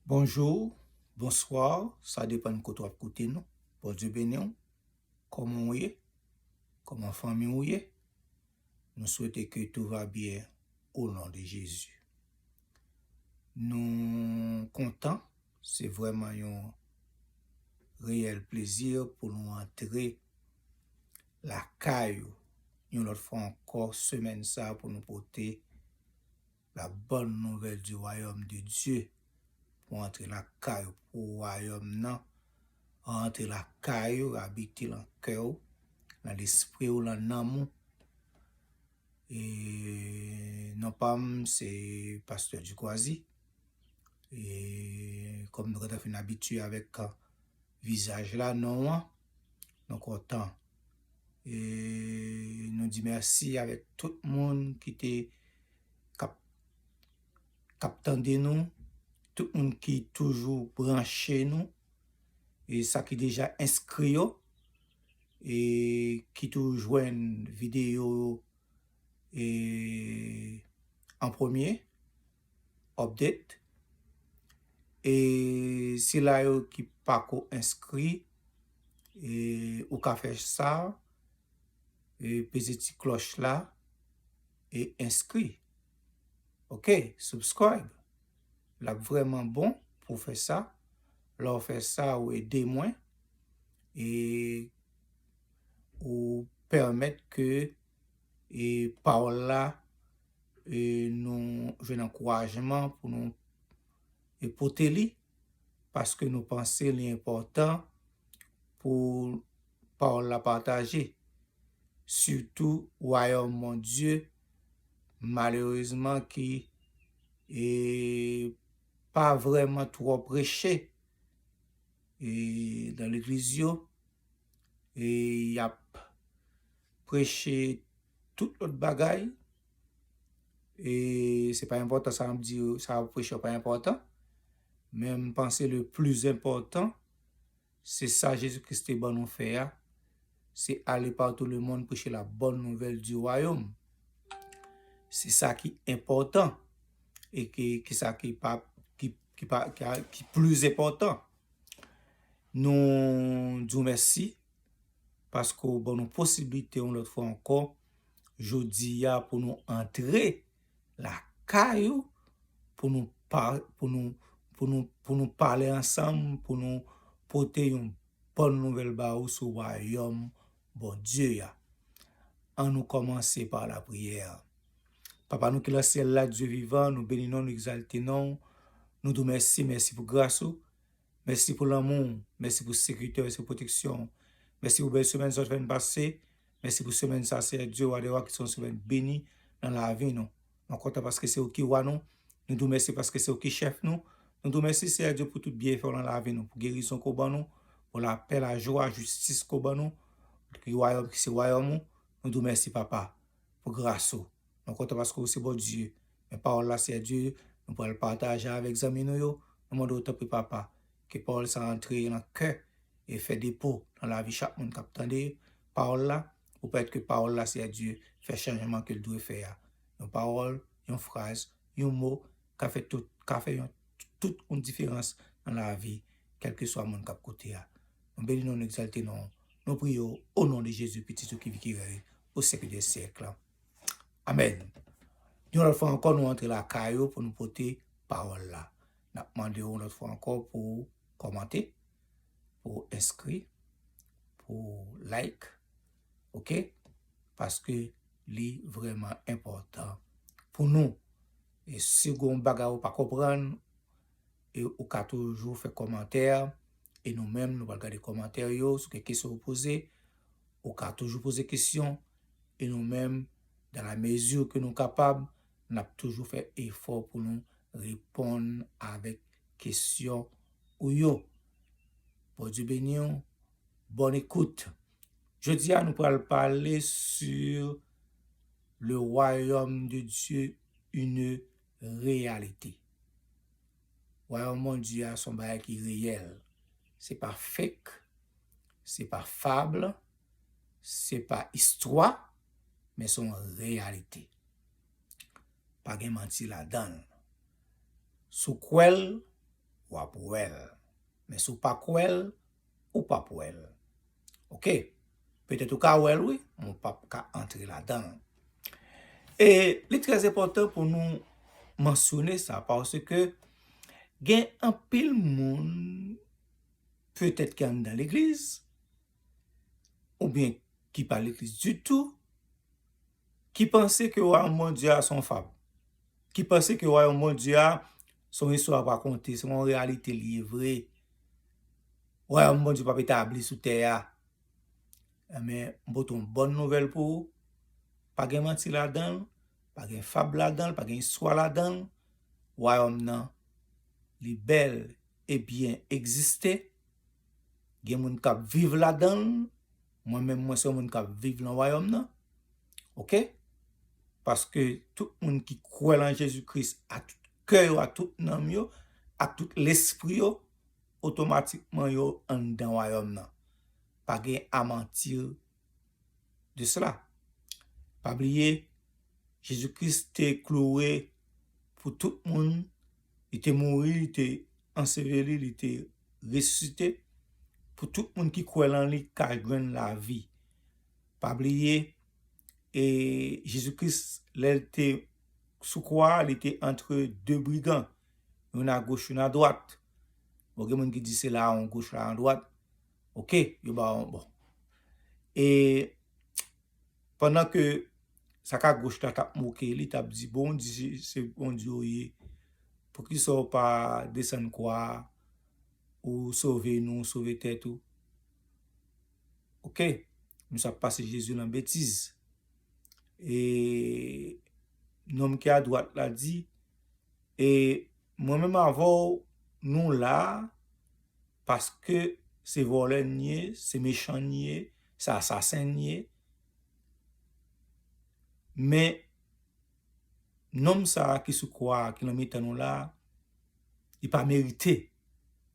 Bonjour, bonsoir sa depan kote wap koute nou Bondye beni w Koman ou ye? Koman fanmi ou ye? Nou swete ke tou va byen o non de Jezi Nou kontan se vrèman yon reyèl plezi pou nou antre lakay ou yon lòt fwa ankò semèn sa pou nou pote La bòn nouvèl di wayòm de Dye pou antre lakay ou, pou wayòm nan rantre lakay ou, abite lan kè ou, lan lespri ou, lan nanm ou. E non pa m se Pastè Dikwazi. E kòm nou gentan fin abitye avèk Vizaj la non an nou kontan e nou di mèsi avèk tout moun ki te kap kap tande nou tout moun ki toujou branche nou e sa ki deja enskri yo e ki tou jwenn videyo e an premye Update e sila yo ki pako enskri e ou ka fè sa e peze ti klòch la e enskri ok subscribe lap vrèman bon pou fè sa lè ou fè sa ou ede mwen e ou pèmèt ke e pawòl la e nou jwenn ankourajman pou nou e pote li paske nou panse li enpòtan pou pawòl la pataje sitou wayòm Bondye malerezman ki e pa vrèman twò preche e nan legliz yo e y ap Preche tout lòt bagay, e se pa enpòtan sa map di yo, sa wap preche yo pa enpòtan, men m panse le pli enpòtan se sa Jezi Kris te ban nou fè a, se ale pa tou le mond preche la bòn nouvèl di wayòm. Se sa ki enpòtan e ki sa ki pa ki pli enpòtan. Nou di w mèsi. paske w ban nou posiblite yon lòt fwa ankò jodi a pou nou antre lakay ou pou nou pou nou pou nou pou nou pale ansanm pou nou pote yon bòn nouvèl ba ou sou wayòm Bondye a. An nou kòmanse pa lapriyè. Papa nou ki lan syèl la, Dye vivan, nou beni non, nou egzalte non ou, nou di w mèsi, mèsi pou gras ou. Mèsi pou lanmou w, mèsi pou sekirite w, mèsi pou pwoteksyon w, mèsi pou bèl semèn sa w te fè n pase, mèsi pou semèn sa Seyè Dye Wa dè Wa ki se yon semèn beni nan lavi nou. Mwen kontan paske se ou ki Wa nou, nou di w mèsi paske se ou ki chèf nou, nou di w mèsi Seyè Dye pou tout byenfè w nan lavi nou, pou gerizon ke w ban nou, pou lapè, lajwa, jistis ke w ban nou, ki wayòm ki se wayòm ou, nou di w mèsi Papa pou gras ou. Nou kontan paske ou se Bondye. Men pawòl la sè Dye nou pral pataje avèk zanmi nou yo, nou mande w tanpri papa ke pawòl sa antre nan kè e fè depo nan lavi chak moun kap tande pawòl la pou pèmèt ke pawòl la sè Dye fè chanjman ke l dwe fè a. Yon pawòl, yon fraz, yon mo ka fè tout ka fè yon tout yon diferans nan lavi kèlkeswa moun kap koute a. Nou beni non nou egzalte non w. Nou priye w o non de Jezi pitit ou ki vi ki rèy pou syèk dè syèk la. Amen. Yon lot fwa anko nou antre lakay ou pou nou pote pawol la. Nap mande ou yon lot fwa anko pou ou komante, pou ou enskri, pou ou like. Ok? Paske li vreman enpotan pou nou. E si gon yon bagay ou pa konprann, e ou ka toujou fe komante. E nou menm nou pral gade komante yo sou kek kesyon ou poze. Ou ka toujou poze kesyon, e nou menm, dans la mesure que nou kapab, n ap toujou fè efò pou nou reponn avèk kesyon ou yo. Bondye beni w, bonne écoute! Jodi a nou pral pale sur Le Royaume de Dieu, une réalité. Wayòm Bondye a se yon bagay ki reyèl. Se pa fake, se pa fable, se pa istwa, men se yon reyalite. Pa gen manti ladan l. Si w kwè l, w ap wè l. Men si w pa kwè l, ou pap wèl ok petèt ou ka wèl wi men ou pap ka antre ladanl e li trè enpòtan pou nou mansyone sa paske gen anpil moun petèt ki anndan legliz oubyen ki pa legliz ditou ki panse ke Wayòm Bondye a se yon fab, ki panse ke Wayòm Bondye a se yon istwa pa konte, se yon reyalite li ye vre. Wayòm Bondye pap etabli sou tè a. Enben, m pote yon bòn nouvèl pou ou, pa gen manti ladan l, pa gen fab ladan l, pa gen istwa ladan l, Wayòm nan li bèl e byen egziste, gen moun k ap viv ladan l, Mwen menm mwen se yon moun kap viv lan wayòm nan ok paske tout moun ki kwè lan Jezi Kris a tout kè yo ak tout nanm yo ak tout lespri yo otomatikman yo anndan wayòm nan pa gen a mentir de cela pa bliye Jezi Kris te kloure pou tout moun Li te mouri, li te anseveli, li te resisite pou tout moun ki kwè lan li ka jwenn lavi. Pa bliye, e Jezi Kris lè l te sou kwa a, li te antre de brigan, youn agoch, youn adwat. Bon, gen moun ki di se la an goch, la an dwat. Ok, yo ba w bon. E. Pandan ke sak a goch la tap moke li tap di bondye se bondye ou ye poukisa ou pa desann kwa a ou sove nou ou sove tèt ou ok misye ap pase jezi nan betiz e nonm ki adwat la di e Mwen menm avèw nou la paske se vòlè n ye se mechan n ye se asasen n ye men nonm sa ki sou kwa ki nan mitan nou la li pa merite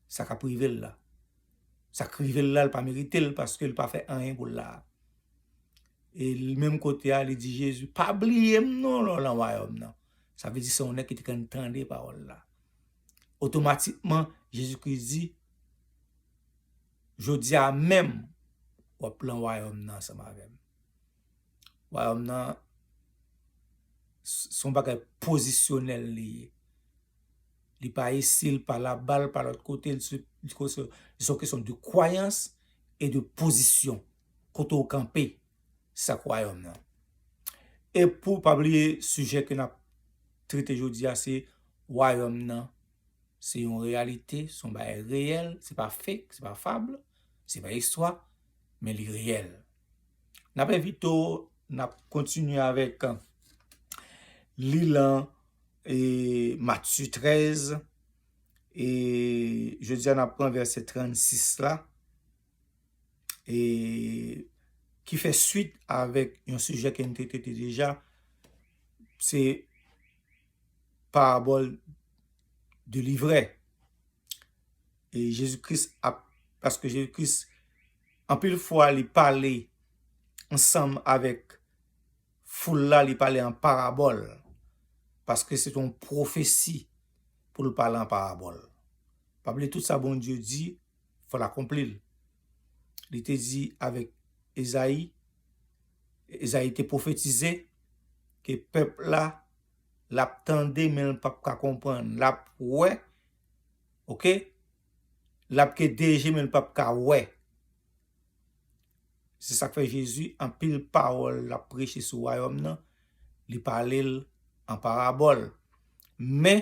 sa kap rive l la sa k rive l la li pa merite l paske li pa fè anyen pou l la e li menm kote a li di jezi pa bliye m non lè w nan wayòm nan. Sa vle di se yon nèg ki te konn tande pawòl la. Otomatikman, Jezi Kris di, Jodi a menm, w ap pran wayòm nan ansanm avè m. Wayòm nan, se yon bagay pozisyonèl li ye. Li pa isi, li pa laba, li pa lòt kote. Se yon kesyon de kwayans e de pozisyon, kote ou kanpe. Sak Wayòm nan. E pou pa bliye sijè ke nap trete jodi a se Wayòm nan se yon reyalite, se yon bagay reyèl, se pa fake, se pa fable, se pa istwa, men li reyèl. Nap envite w, nap kontinye avèk li lan Matye 13 e jodi a nap pran vèsè 36 la e ki fè swit avèk yon sijè ke n te trete deja, se parabòl de livrè. E Jezi Kris ap, paske Jezi Kris anpil fwa li pale ansanm avèk foul la, li pale an parabòl, paske se te yon pwofesi pou l pale an parabòl. Pa bliye tout sa Bondye di. fò l akonpli l. Li te di avèk Ezayi, Ezayi te pwofetize ke pèp la l ap tande men l pap ka konprann, l ap wè, ok, l ap gen de je men l pap ka wè. Se sa k fè Jezi anpil pawòl l ap preche sou wayòm nan li pale l an parabòl. Men,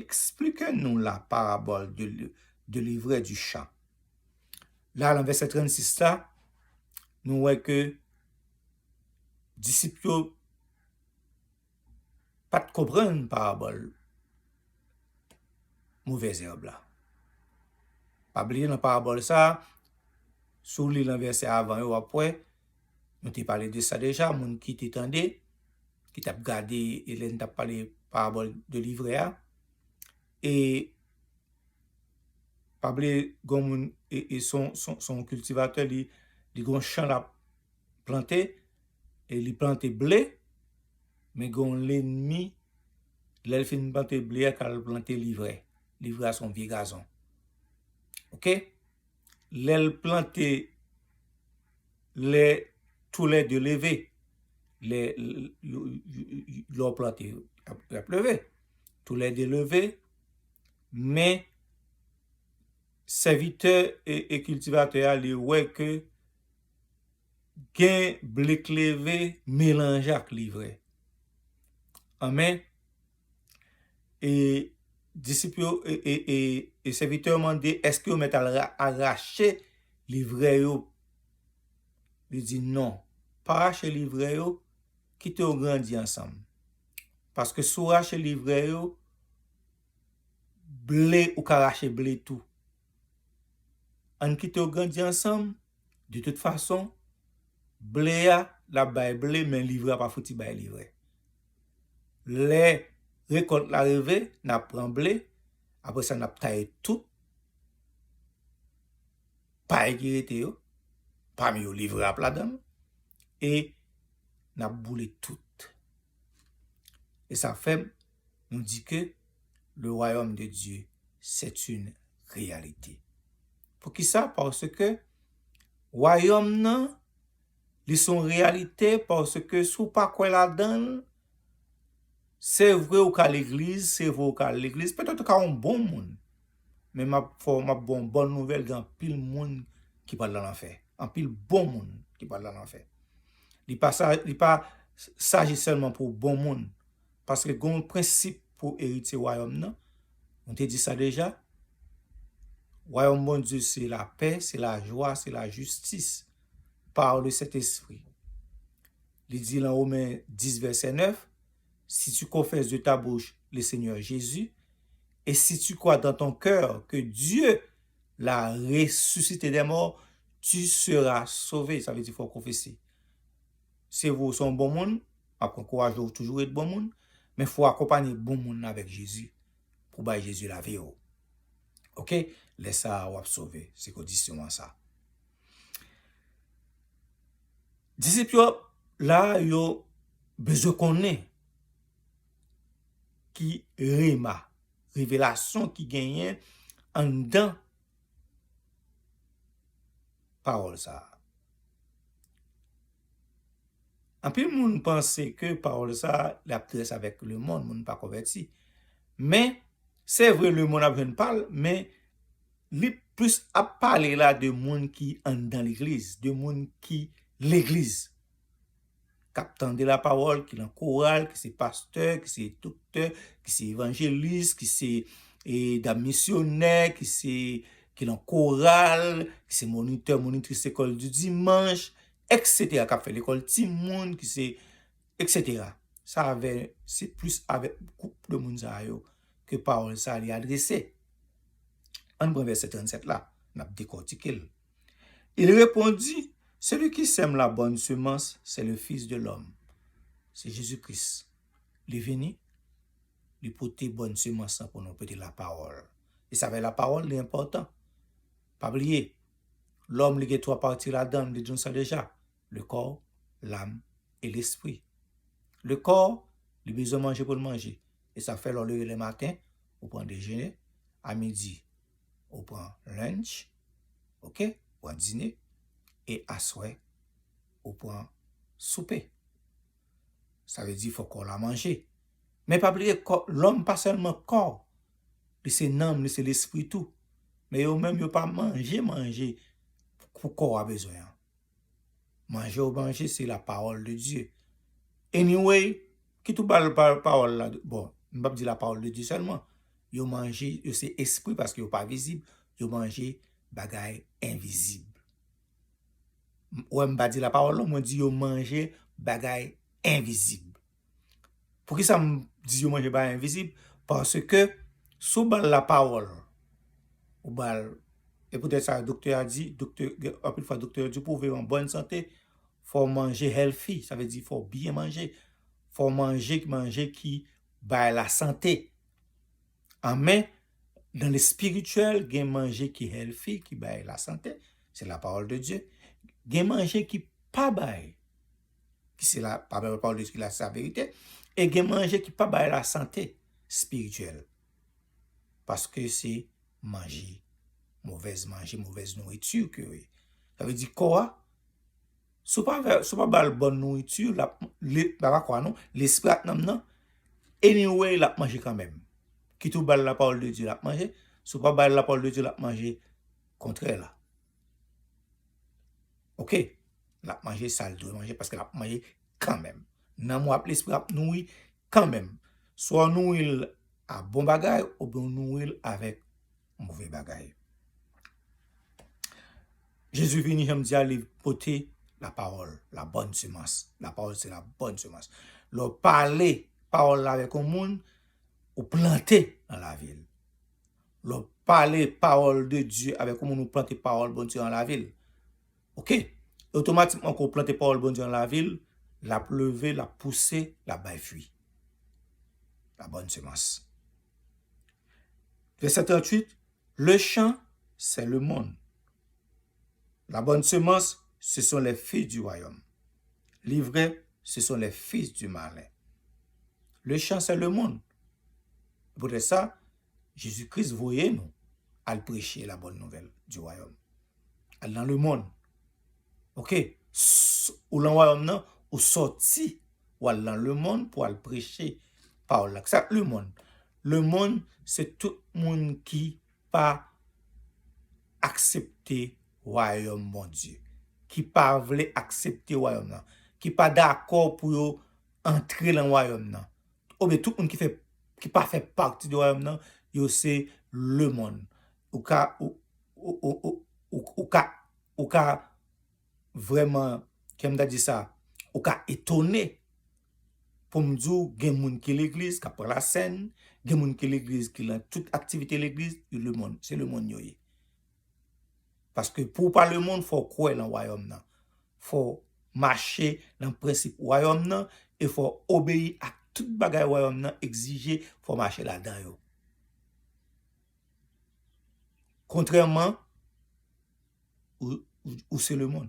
Explike nou la parabòl de livre du chan. La lan vèsè 36 la, nou wè ke disip yo pat konprann parabòl movè zèb la. Pa bliye lan parabòl sa, si w li lan vèsè avan yo w ap wè, Nou te pale de sa deja, moun ki te tande, ki tap gade Hélène tap pale parabòl de livrè a. E pa ble gon moun e son son kiltivatè li gon chan lap plante e li plante ble men gon lennmi lè l fin plante ble a kal plante livrè. Livrè a son vye gazon. Ok? Lè l plante Lè tou lè de leve Lè yo plante yo ap leve Tou lè de leve Men Sèvitè e kiltivatè a li wè ke Gen ble k leve Melanje ak li vre Anmè E disip yo, e sèvitè yo mande, èske yo mèt al rache livrè yo? Li di, non, pa rache livrè yo, kite yo grandi ansanm. Paske si w rache livrè yo, ble, ou ka rache ble tou. Ann kite yo grandi ansanm, de tout fason, ble a l ap bay ble men livre a pa fouti bay livre. Lè rekòlt la rive, n ap pran ble, apre sa n ap taye tout pay ki rete yo, pami yo livre a ap ladan l, e n ap boule tout. E sa fè. nou di ke le wayòm de Dye c'est une réalité. Poukisa? Paske wayòm nan li se yon reyalite paske si w pa kwè ladan l, se vre ou ka legliz, se vre ou ka al legliz, petèt ou ka yon bon moun, men m ap fè w, m ap ba w yon bòn nouvèl, gen anpil moun ki pral nan lanfè, anpil bon moun ki pral nan lanfè. Li pa, li pa saji sèlman pou bon moun. Paske gen yon prensip pou eritye wayòm nan, nou te di sa deja, wayòm Bondye se lapè, se lajwa, se lajistis, par le Sentespri. Li di lan Women 10 vèsè 9, Si tu konfès de ta bouch le Senyè Jezi, e si tu kwa dan ton kè ke Dye la resusite dè mò, tu sera sove, sa vle di fò konfese. se vre ou se yon bon moun, map ankouraje ou toujou ret bon moun, men fò ou akonpanye bon moun nan avèk Jezi, pou bay Jezi lavi ou. Ok, lè sa a wap sove, se kondisyon an sa. Disip yo la yo bezwen konnen ki rema, revelasyon ki genyen anndan. pawòl sa a. Anpil moun panse ke pawòl sa a li ap rès avèk lemonn, moun pa konvèti. Men, se vre lemonn ap jwenn pa l, men li plis ap pale la de moun ki anndan legliz, de moun ki legliz. kap tande la pawòl, ki nan koral, ki se pastè, ki se doktè, ki se evanjelis, ki se dam misyonè, ki se ki nan koral, ki se monitè, monitris lekòl di dimanch, eksetera, kap fè lekòl timoun, ki se eksetera. Sa avè, se plis avè gwoup de moun sa yo ke pawòl sa li adrese. Ann pran vèsè 37 la, nap dekòtike l. Il repondit, Celui qui sème la bonne semence, c'est le Fils de l'homme. Se Jezi Kris. Li vini, li pote bòn semans lan pou nou, pote lapawòl. E sa fè lapawòl li enpòtan. Pa bliye, lòm li gen twa pati ladan l, li di nou sa deja, le kò, lam, e lespri. Le kò, li bezwen manje pou l manje. E sa fè lè w leve le maten, ou pran dejene, a midi, ou pran lunch ok ou pran dine e aswè ou pran soupe sa vle di fò kò la manje men pa bliye lòm pa sèlman kò li se nanm li se lespri tou men yo menm yo pa manje manje pou kò a bezwen an. Manje ou manje se la parole de Dieu. Anyway, kit ou bal parole la, bon, m pap di la parole de Dieu sèlman, yo manje, yo se espri paske yo pa vizib, yo manje bagay envizib. Ou wè m pa di la parole non, mwen di yo manje bagay envizib. Poukisa m di yo manje bagay envizib? Paske si w ba l lapawòl, ou ba l, e poutèt sa doktè a di, doktè, anpil fwa doktè yo di pou w viv an bòn sante, fò w manje healthy, sa vle di fò w byen manje, fò w manje manje ki bay lasante. An men, nan lespirityèl, gen manje ki healthy, ki bay lasante, se lapawòl de Dye, gen manje ki pa bay. ki se la pa bèl pawòl de ki la sa verite, e gen manje ki pa bay la sante espirityèl. Paske se manje, movèz manje, movèz nouriti ke yo ye. Sa vle di kò a, si w pa fè, si w pa ba l bòn nouriti, l ap, li, pa nan kò a non, lespri ak nanm nan, anyway l ap manje kanmèm. Kit ou ba l lapawòl de Dye l ap manje, si w pa ba l lapawòl de Dye l ap manje kontrè la. Ok, l ap manje sa l dwe manje paske l ap manje kanmenm. Nanm ou ak lespri ou ap nouri kanmenm. Swa ou nouri l a bon bagay ou byen ou nouri l avèk move bagay. Jezi vini jan m di a li pote lapawòl, labòn semans. Lapawòl se labòn semans. Lè w pale pawòl la avèk yon moun, ou plante nan lavi l. Lè w pale pawòl de Dye avèk yon moun ou plante pawòl Bondye an lavi l ok e otomatikman ke w plante pawòl Bondye an lavi l l ap leve l ap pouse l ap bay fwi la bòn semans vèsè 38 le chan sè le mond la bòn semans se son lè fi di wayòm li vrè se son lè fis di malen le chan sè le mond pou tèt sa Jezi Kris voye nou al preche la bòn nouvèl di wayòm. Al nan lemonn. Ok, ou lan wayòm nan, ou sòti, ou al lan lemonn pou al preche pawòl la. Kisa k lemonn? Lemonn se tout moun ki pa aksepte wayòm Bondye. Ki pa vle aksepte wayòm nan. Ki pa dakò pou yo antre lan wayòm nan. Oubyen tout moun ki fè, ki pa fè pati de wayòm nan, yo se lemonn. Ou ka, ou ka, ou ka vrèman, kijan m ta di sa, ou ka etone pou m di w gen moun ki legliz, k ap pran lasèn, gen moun ki legliz ki lan tout aktivite legliz, yo lemonn, se lemonn yo ye. Paske pou w pa lemonn fò w kwè nan wayòm nan. Fò w mache nan prensip wayòm nan e fò w obeyi ak tout bagay wayòm nan egzije fò w mache ladan yo. Kontrèman, ou se lemonn.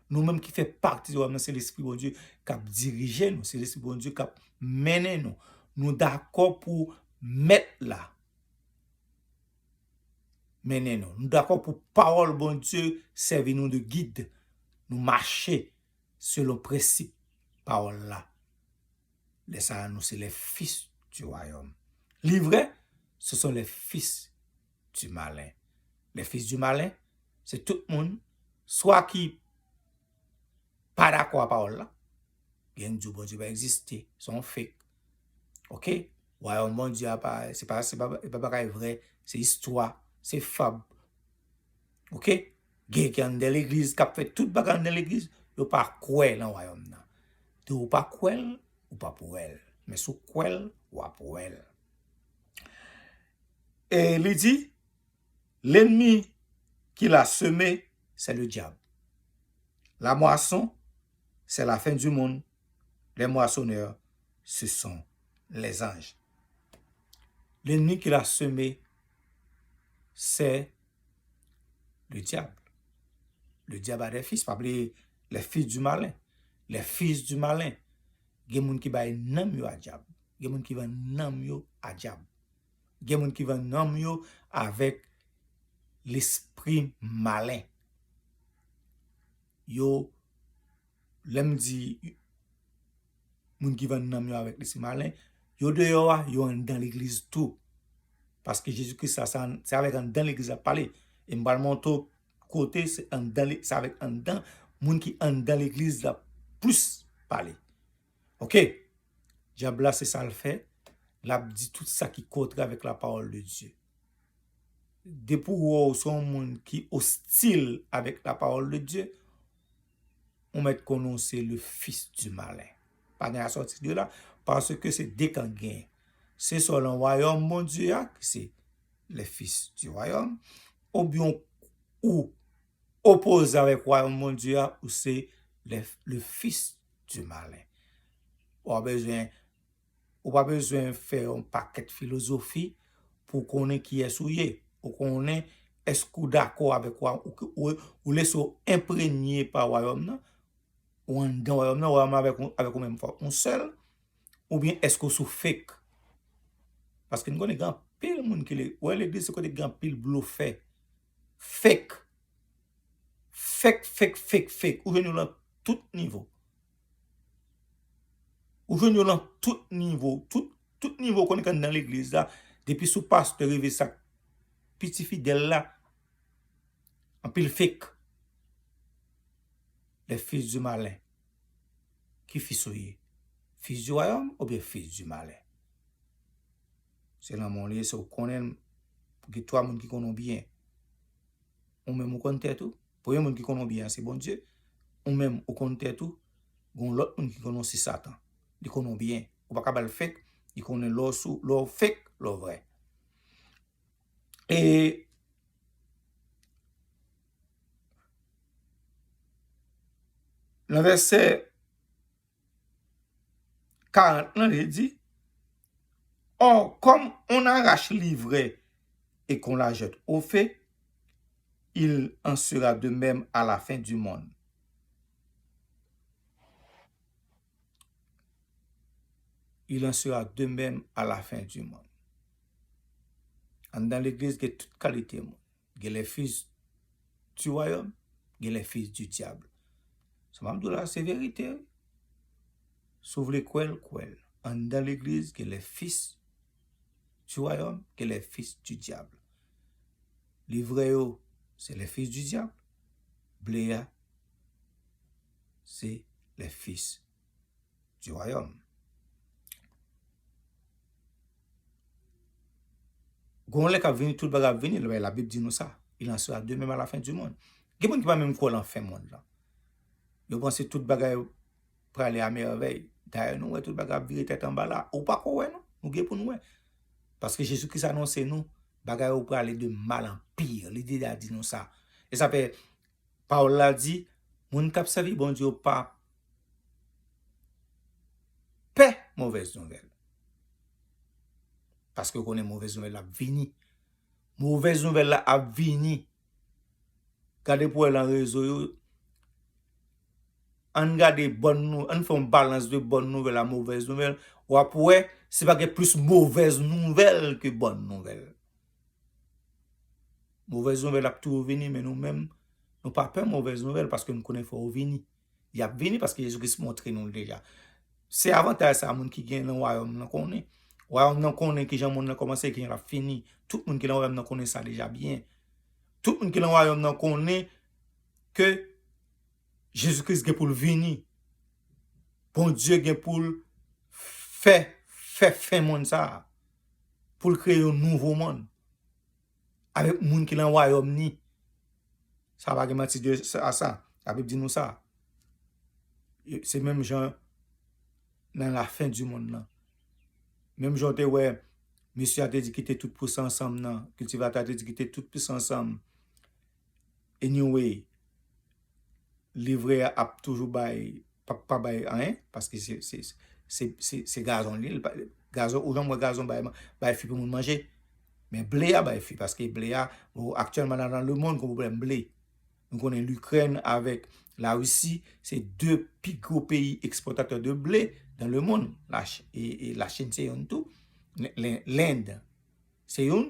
Nou menm ki fè pati wòm nan se lespri Bondye kap dirije nou, se lespri Bondye kap mennen nou. Nou dakò pou mèt la mennen nou. Nou dakò pou pawòl Bondye sèvi nou de gid. Nou mache selon prensip pawòl la. Lè sa a nou se les fils du royaume. Li vre, se son les fils. du malin. Les fils du malin, se tout moun, swa ki pa dakò a pawòl la, gen ki di w Bondye pa egziste, se yon fake, ok, wayòm Bondye a pa, se pa, se pa bagay vrè, se istwa, se fab, ok, gen ki anndan legliz kap fè tout bagay anndan legliz, yo pa kwè nan wayòm nan. Donk ou pa kwè l, ou pap wè l, men si w kwè l, wap wè l. E li di, Lenmi ki la seme, sè le dyab. La mwason, sè la fen di moun, lè mwasonè, se son lè zanj. Lenmi ki la seme, sè le dyab. Le dyab a de fis, pa bliye, le fis di malen. Le fis di malen, gen moun ki bay nanm yo a dyab. Gen moun ki vann nanm yo a dyab. Gen moun ki vann nanm yo avèk lespri malen. Yo, lè m di moun ki vann nanm yo avèk lespri malen, yo deyò a, yo anndan legliz tou. Paske Jezi Kris la, se avèk anndan legliz l ap pale. E m pral montre w kote se anndan, se avèk anndan moun ki anndan legliz l ap plis pale. Ok! Dyab la se sa l fè, l ap di tout sa ki kontrè avèk lapawòl de Dye. Depi ou wè ou se yon moun ki ostil avèk lapawòl de Dye, ou mèt konnen ou se le fis di malen. Pa gen asòti de la, paske se de kan k genyen. Se swa lan wayòm Bondye a, ki se le fis di wayòm, oubyen ou Opoze avèk wayòm Bondye a, ou se le fis di malen. Pa bezwen, ou pa bezwen fè yon pakèt filozofi pou w konnen kiyès ou ye. Ou konnen èske ou dakò avèk wayòm, ou lese w enpremye pa wayòm nan, ou anndan wayòm nan, wayòm nan avèk ou menm fwa yon sèl, oubyen èske ou sou fake. Paske nou konnen gen anpil moun ki, wè legliz se kote ki gen anpil blofè. Fek. Fek fek fek fek. Ou jwenn yo lan tout nivo. Ou jwenn yo lan tout nivo. Tout nivo konnen kan nan legliz la. Depi sou pastè rive sak pi ti fidèl la. Anpil fek. Les fils du malin. Ki fils ou ye? Fils du royaume oubyen fils du malin? Se lanmò li ye, se ou konnen l. Gen twa moun ki konnen ou byen. Ou menm ou konn tèt ou. Premye moun ki konnen ou byen an se Bondye. Ou menm ou konn tèt ou. Gon lòt moun ki konnen ou se satan. Li konnen ou byen. Ou pa ka ba l fek. Li konnen lè w sou, lè w fek, lè w vrè. E nan vèsè. 40 lan e di, Ò, kòm on arach livre e k'on la jèt o fe, il en sera de mèm a la fen di monn. Il en sera de mèm a la fen di monn. Anndan legliz gen tout kalite moun. Gen les fils du royaume, gen les fils du diable. Sa map di w la se verite wi. Si w vle kwè l, kwè l. Anndan legliz gen les fils du royaume, gen les fils du diable. Li vrè yo se les fils du diable, ble a se les fils. du royaume. Gon lè kap vini tout bagay ap vini, la Bible di nou sa. Il en sera de même à la fin du monde. Gen moun ki pa menm kwè lan fen mond lan. Yo panse tout bagay prale a merveille. Dayè nou wè tout bagay ap vire tèt anba la. Ou pa ko wè nou, nou gen pou nou wè. Paske Jezi Kris anonse nou bagay yo prale de mal an pire. Li deja di nou sa. E sa fè Pawòl la di, Moun k ap sèvi Bondye yo pa pè movèz nouvèl, paske yo konnen movèz nouvèl la ap vini. Movèz nouvèl la ap vini. Gade pou w wè nan rezo yo, ann gade bòn nou, ann fè yon balans de bòn nouvèl a movèz nouvèl, w ap wè se pa gen plis movèz nouvèl ke bòn nouvèl. Movèz nouvèl ap toujou vini men nou menm nou pa pè movèz nouvèl paske nou konnen fò yo vini. Y ap vini paske Jezi Kris montre nou l deja. Se avantaj sa a moun ki gen nan Wayòm nan konnen. Wayòm nan konnen ki jan monn nan kòmanse e ki jan l ap fini. Tout moun ki nan Wayòm nan konnen sa deja byen. Tout moun ki nan Wayòm nan konnen ke Jezi Kris gen pou l vini. Bondye gen pou l fè fen monn sa a. pou l kreye yon nouvo monn avèk moun ki nan wayòm ni. Sa pa gen manti de sa, Labib di nou sa. Se menm jan nan lafen di monn nan. Menm jan w te wè mesye a te di kite tout pou sa ansanm nan, kiltivatè a te di kite tout pou sa ansanm. Anyway livrè a ap toujou bay pa bay anyen paske se gazon li gazon ou janm wè gazon bay fi pou moun manje men ble a bay fi paske ble a aktyèlman nan lemond gen pwoblèm ble nou konnen likrèn avèk larisi se 2 pi gwo peyi ekspòtatè de ble nan lemond lachin se youn tou lend se youn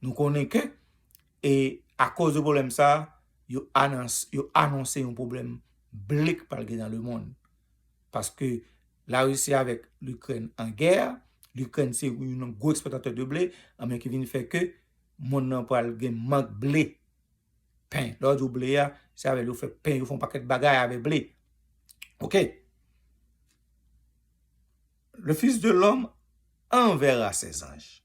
nou konnen ke E akoz de pwoblèm sa, yo anonse yon pwoblèm blik pral gen nan lemonn. Paske Larisi avèk Likrèn an gè, Likrèn se youn nan gwo ekspòtatè de ble, anben ki vin fè ke monn nan pral gen mank ble, pen. Lè yo di w ble a, se avè l yo fè pen, yo fè yon pakèt bagay avè ble. Ok. Le fils de l'homme enverra ses anges.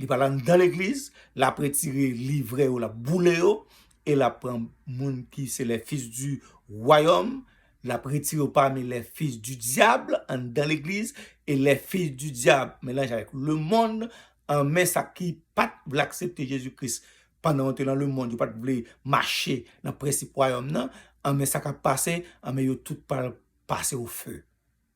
Li pral anndan legliz, lap retire livre yo lap boule yo, e lap pran moun ki se les fils du royaume, lap retire yo pami les fils du diable anndan legliz, e les fils du diable melanje avèk le monde, an men sa ki pat vle aksepte Jezi Kris pandan yo te nan le monde, yo pat vle mache nan prensip royaume nan, an men sa kap pase, an men yo tout pral pase au feu.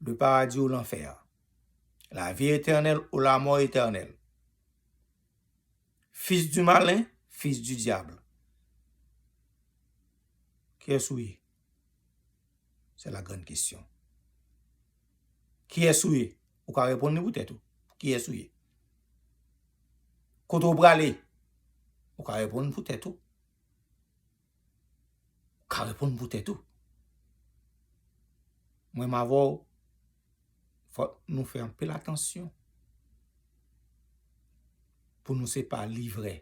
Le paradis ou lanfè a. La vie éternelle ou la mort éternelle. Fils du malin, fils du diable. Kiyès ou ye? Se la grande question. Kiyès ou ye? Ou ka reponn li pou tèt ou. Kiyès ou ye? Kote ou prale? Ou ka reponn pou tèt ou. Ou ka reponn pou tèt ou. Mwen m avè w, fò nou fè anpil atansyon pou nou se pa livrè.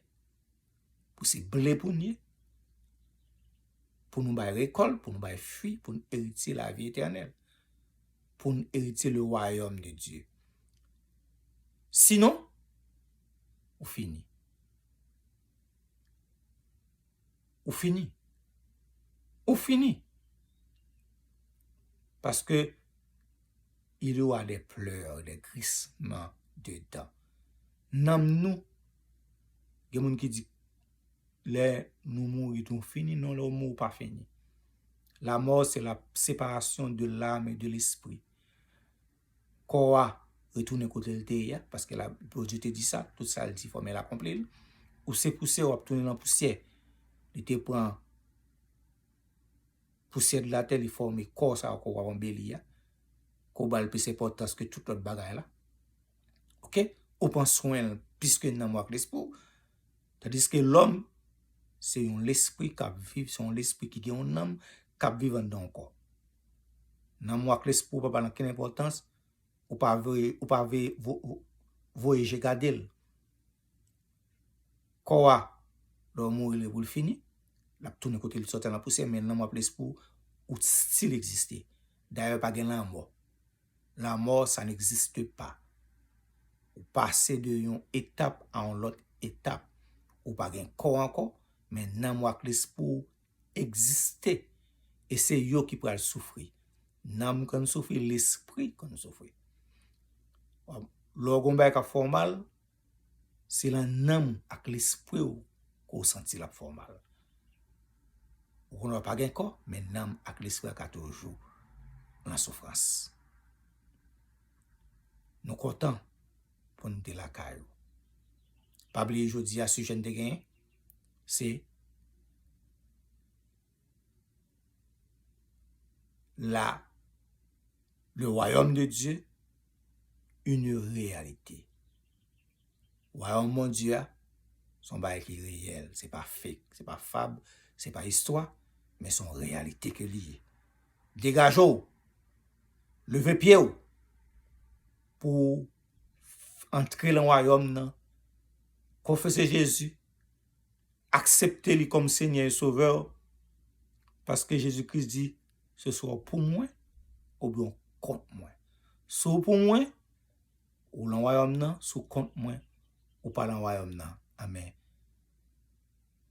Pou se ble pou nou ye, pou nou bay rekòl, pou nou bay fwi, pou nou eritye lavi etènèl. Pou nou eritye le wayòm de Dye. Sinon, ou fini. ou fini. Ou fini. Paske, il ou a de pleur, de grisman de dan. Nanm nou, gen moun ki di, lè nou mouri tou nou fini, non lè ou mouri ou pa fini. La mort se la separasyon de l'âme et de l'esprit. kò a retounen kote l te ye a, paske la, Bondye te di sa, tout sa l di fòme l akonpli l, ou se pousyè w ap tounen nan pousyè, li te pran pousyè de latè li fòme kò sa yo ke w ap anbeli a, ke w ba l plis enpòtans ke tout lòt bagay la, ok, ou pran swen l plis ke nanm ou ak lespri w. Tandiske lòm se yon lespri k ap viv, se yon lespri ki gen yon nanm k ap viv anndan yon kò. Nanm ou ak lespri ou pa ba l ankenn enpòtans, ou pa vle ou pa vle voye je gade l. Kò a, lè ou mouri li pou l fini, l ap tounen kote l te sòti a nan pousyè men nanm ou ak lespri ou, ou stil egziste. Dayè pa gen lanmò. La mort sa n'existe pas. Ou pase de yon etap a yon lòt etap. Ou pa gen kò ankò, men nanm ou ak lespri w egziste. E se yo ki pral soufri. Nanm konn soufri, lespri konn soufri. Lè w gen yon bagay k ap fè w mal. Se lan nanm ak lespwi w ke w santi l ap fè w mal. Ou konnen w pa gen kò, men nanm ak lespri a ka toujou lan soufrans. Nou kontan pou n te lakay ou. Pa bliye jodi a sijè n te genyen se. la le wayòm de Dye yn reyalite. Wayòm Bondye a son bagay ki reyèl, se pa fek, se pa fab, se pa istwa, men son reyalite ke li ye. Degaje w, leve pye w pou w antre lan wayòm nan, konfese Jezi, aksepte li kòm Senyè e Sovè w, paske Jezi Kris di, seswa w pou mwen oubyen w kont mwen. Si w pou mwen, ou lan wayòm nan, si w kont mwen, ou pa lan wayòm nan, anben,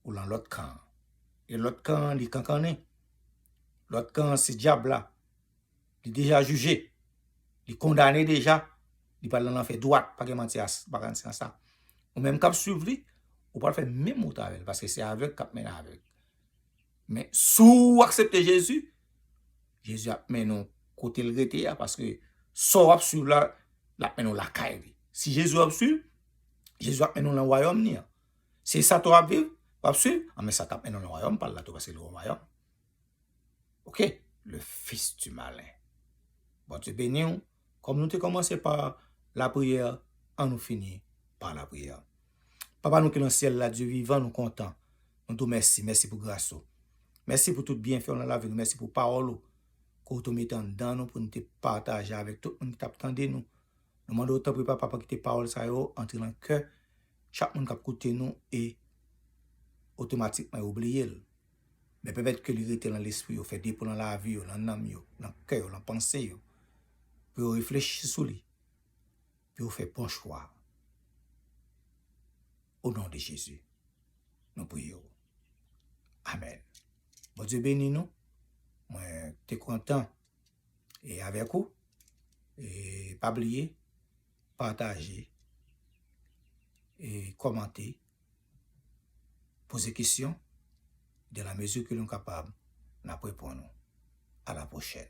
ou lan lòt kan an. E lòt kan an li kankannen. Lòt kan an se dyab la. Li deja jije. Li kondane deja. Li pral nan lanfè dwat. Pa gen manti nan sa. Ou menm k ap swiv li, ou pral fè menm wout avè l. Paske se avèg k ap mennen avèg. Men, si w aksepte Jezi, Jezi ap mennen w kote l rete a. Paske sa w ap swiv la, l ap mennen w lakay li. Si Jezi w ap swiv, Jezi ap mennen w nan wayòm li an. Si sa tou w ap viv, w ap swiv, anben sa t ap mennen w nan wayòm pa l la tou. Paske l gen yon wayòm. Ok le fils du malin. Bondye beni ou. Kòm nou te kòmanse pa la priyè, an nou fini pa la priyè. Papa nou ki nan syèl la, Dye vivan nou kontan. Nou di w mèsi, mèsi pou gras ou. Mèsi pou tout byenfè ou nan lavi nou. Mèsi pou pawòl ou ke ou te mete anndan nou pou nou te pataje avèk tout moun ki t ap tande nou. Nou mande w tanpri papa pou w kite pawòl sa yo antre nan kè chak moun k ap koute nou e otomatikman yo bliye l. Men pèmèt ke li rete lan lespri yo, fè depo lan lavi yo, lan nanm yo, lan kè yo, lan panse yo, pou yo reflechi sou li, pou yo fè bon chwa. O non de Jezi, nou priye ou. Amèn. Bondye beni nou. Mwen te kontan e avèk ou. E pa bliye, pataje, e kòmante. Poze kesyon, dans la mesure que nou kapab, n ap reponn ou. A la pwochèn.